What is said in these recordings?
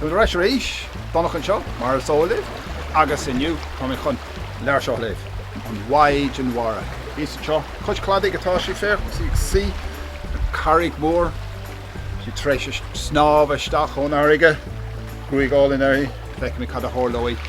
Táimid ar ais arís don Domhnach anseo, mar is eol libh, agus inniu táimid chun leabhar seo a léamh, An Mhaighdean Mhara. Thíos anseo cois cladaigh atá sí, féach, agus í ag suí ar charraig mhór. Sí tar éis snámh isteach ón fharraige, gruaig álainn uirthi, feicimid cad a tharlóidh.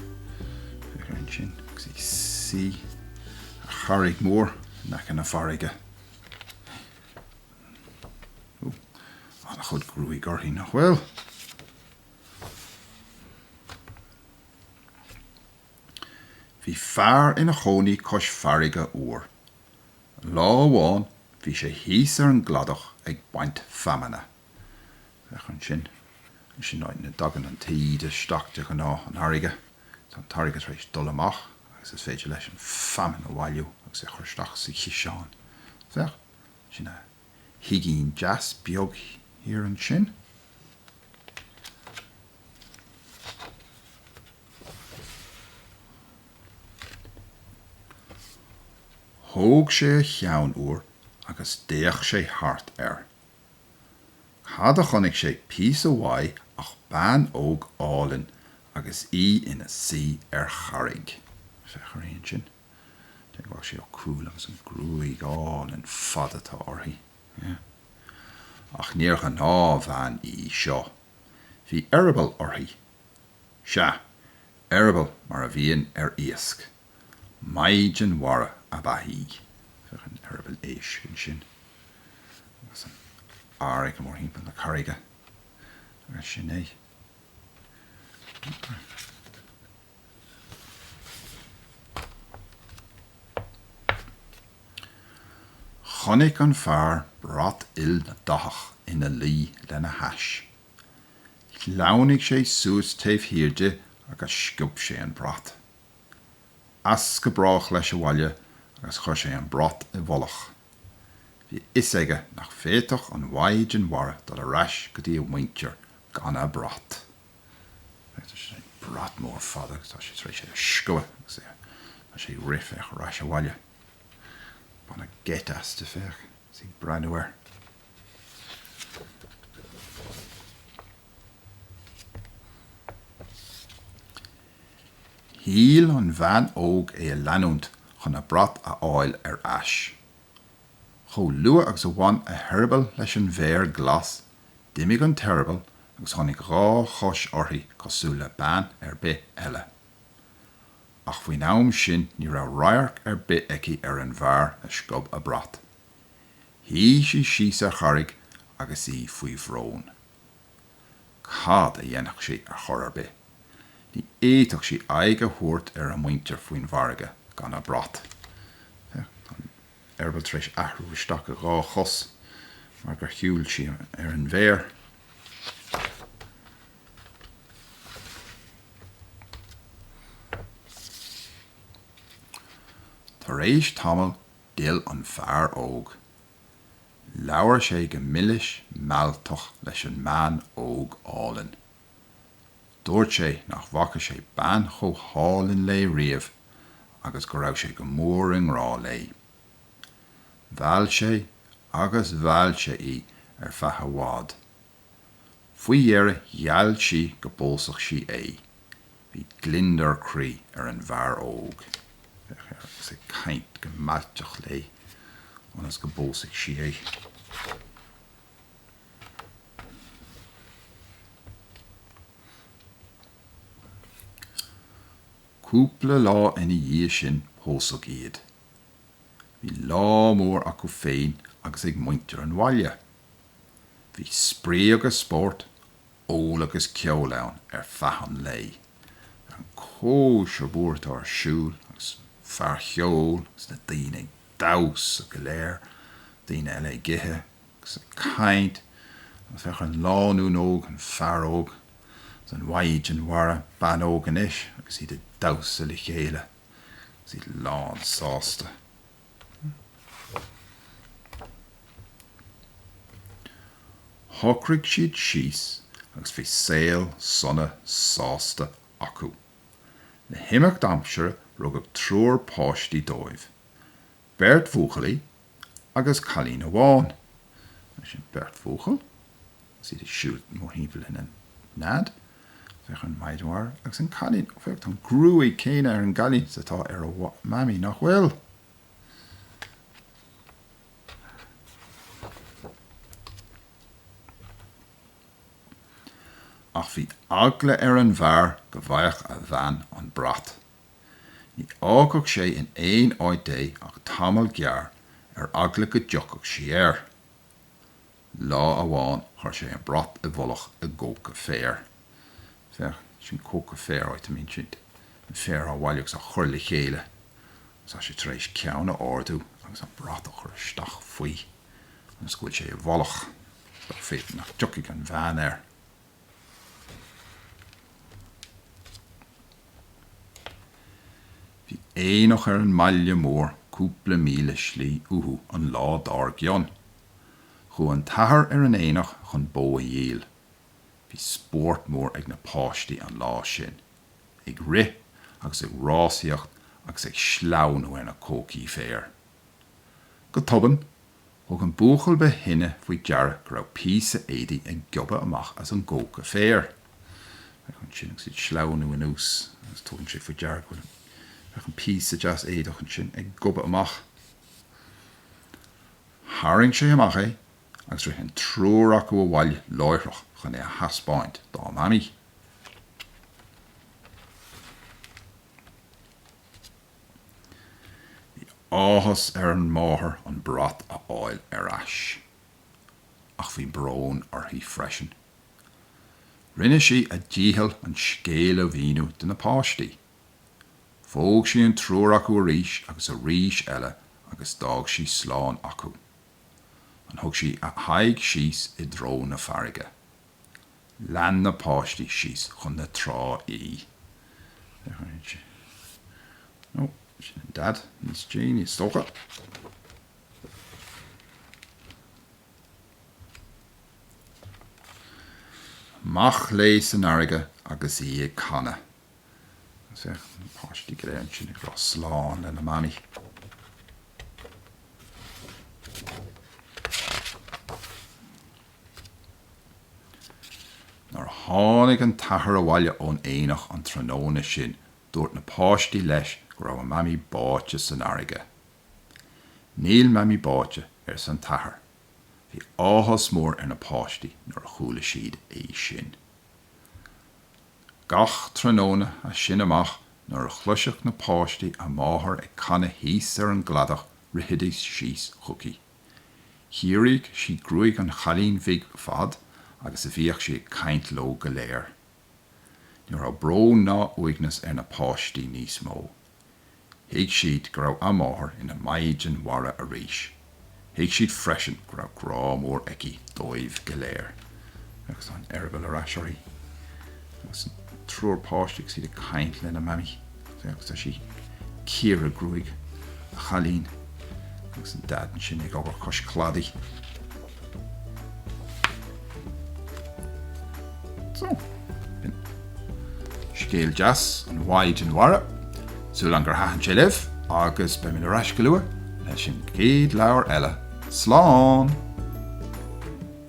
Féach ansin agus ag suí ar charraig mhór in aice na farraige. Ó, an-chuid gruaig uirthi, nach bhfuil? Bhí fear ina chónaí cois farraige uair. Lá amháin bhí sé thíos ar an gcladach ag baint feamainne. Féach ansin. Sin áit ina dtagann an taoide isteach de ghnáth an fharraige. Tá an fharraige tar éis dul amach agus is féidir leis an feamainn a bhailiú agus é a chur isteach sa chiseán. Féach, sin a thigín deas beag thiar ansin. Thóg sé a cheann uair agus d'fhéach sé thart air. Cad a chonaic sé píosa uaidh ach bean óg álainn agus í ina suí ar charraig. Féach uirthi ansin. Féach, tá sí chomh cúthail agus an ghruaig álainn fada atá uirthi. Yeah. Ach níor ghnáthbhean í seo. Bhí eireaball uirthi. Sea, eireaball mar a bhíonn ar iasc. Maighdean Mhara ab ea í. Féach an t-eireaball éisc ansin agus an fharraige mórthimpeall na carraige agus sin é. Chonaic an fear brat ildathach ina luí lena hais. Shleamhnaigh sé suas taobh thiar di agus sciob sé an brat. As go brách leis abhaile agus chuir sé an brat i bhfolach. Bhí a fhios aige nach bhféadfadh an mhaighdean mhara dul ar ais go dtí a mhuintir gan a brat. Féach an brat mór fada agus tá sé tar éis é a sciobadh agus é tá sé ag rith féach ar ais abhaile. Baineadh geit aisti féach agus í ag breathnú air. Shíl an bhean óg é a leanúint chun a brat a fháil ar ais. Chomh luath agus a bhain a heireaball leis an bhféar glas, d'imigh an t-eireaball agus tháinig dhá chois uirthi cosúil le bean ar bith eile. Ach faoin am sin ní raibh radharc ar bith aici ar an bhfear a sciob a brat. Shuigh sí síos ar charraig agus í faoi bhrón. Cad a dhéanfadh sí ar chor ar bith? Ní fhéadfadh sí aghaidh a thabhairt ar a muintir faoin bhfarraige gan a brat. An t-eireaball tar éis athrú isteach ina dhá chos mar gur shiúil sí ar an bhféar. Tar éis tamaill d'fhill an fear óg Labhair sé go milis mealltach leis an mbean óg álainn. Dúirt sé nach bhfaca sé bean chomh hálainn léi riamh agus go raibh sé go mór i ngrá léi. Mheall sé agus mheall sé í ar feadh i bhfad. Faoi dheireadh gheall sí go bpósfadh sí é. Bhí gliondar croí ar an bhfear óg. Féach air agus é ag caint go mealltach léi ionas go bpósfadh sí é. Cúpla lá ina dhiaidh sin pósadh iad. Bhí lá mór acu féin agus ag muintir an bhaile. Bhí spraoi agus spórt, ól agus ceol ann ar feadh an lae. Féach ar an gcóisir mhór atá ar siúl agus fear cheoil agus na daoine ag damhsa go léir, daoine eile ag ithe agus ag caint agus féach an lánúin óg, an fear óg agus an mhaighdean mhara, bean óg anois, agus iad ag damhsa le chéile agus iad lán sásta. Shocraigh siad síos agus bhí saol sona sásta acu. Le himeacht aimsire rugadh triúr páistí dóibh, beirt bhuachaillí agus cailín amháin. Sin beirt bhuachaill Is iad ag siúl mórthimpeall na nead. Féach an mhaighdean mhara agus an cailín. Ó féach tá an ghruaig céanna ar an gcailín is atá ar a mamaí nach bhfuil? Ach bhí eagla ar an bhfear go bhfaigheadh a bhean an brat. Ní fhágfadh sé in aon áit é ach tamall gearr ar eagla go dtiocfadh sí air. Lá amháin chuir sé an brat i bhfolach i gcoca féir. Féach, sin coca féir, áit, I mean, sin an féar á bhailiú agus á chur le chéile. Agus tá sé tar éis ceann a ardú agus an brat a chur isteach faoi ionas go bhfuil sé i bhfolach, b'fhéidir nach dtiocfaidh an bhean air. Bhí aonach ar an mbaile mór cúpla míle slí uathu an lá dár gcionn. Chuaigh an t-athair ar an aonach chun bó a dhíol. Bhí spórt mór ag na páistí an lá sin. Ag rith agus ag rásaíocht agus ag sleamhnú ar na cocaí féir. Go tobann Thug an buachaill ba shine faoi deara go raibh píosa éadaigh ag gobadh amach as an gcóca féir. Féach ansin agus iad ag sleamhnú anuas agus tugann sé faoi deara go bhfuil an, féach an píosa deas éadach ansin ag gobadh amach. Tharraing sé amach é agus rith an triúr acu abhaile láithreach chun é a theaspáint dá Mamaí. Bhí áthas ar an máthair an brat a fháil ar ais, ach bhí brón uirthi freisin. Rinne sí a dícheall an scéal a mhíniú do na páistí. Phóg sí an triúr acu arís agus arís eile agus d'fhág sí slán acu. An thug sí a haghaidh síos i dtreo na farraige. Lean na páistí síos chun na trá í. Ó, sin an Dad, níos déanaí is dócha. Amach léi san fharraige agus í ag canadh. Agus é, na páistí go léir ansin ag rá slán lena Mamaí. Nuair a tháinig an t-athair abhaile ón aonach an tráthnóna sin dúirt na páistí leis go raibh a mamaí báite san fharraige. Níl mamaí báite, arsa an t-athair. Bhí áthas mór ar na páistí nuair a chuala siad é sin. Gach tráthnóna as sin amach nuair a chloisfeadh na páistí a máthair ag canadh thíos ar an gcladach rithfidís síos chuici. Chíoradh sí gruaig an chailín bhig fad agus a bhíodh sí ag caint leo go léir. Ní raibh brón ná uaigneas ar na páistí níos mó. Thuig siad go raibh a máthair ina Maighdean Mhara arís. Thuig siad freisin go raibh grá mór aici dóibh go léir. agus tá an t-eireaball ar ais uirthi. Agus an triúr páiste agus iad ag caint lena mamaí agus tá sí ag cíoradh gruaig an chailín agus an daid ansin ag obair cois cladaigh. So, b'in scéal deas An Mhaighdean Mhara. Súil agam gur thaitin sé libh agus beimid ar ais go luath leis an gcéad leabhar eile. Slán!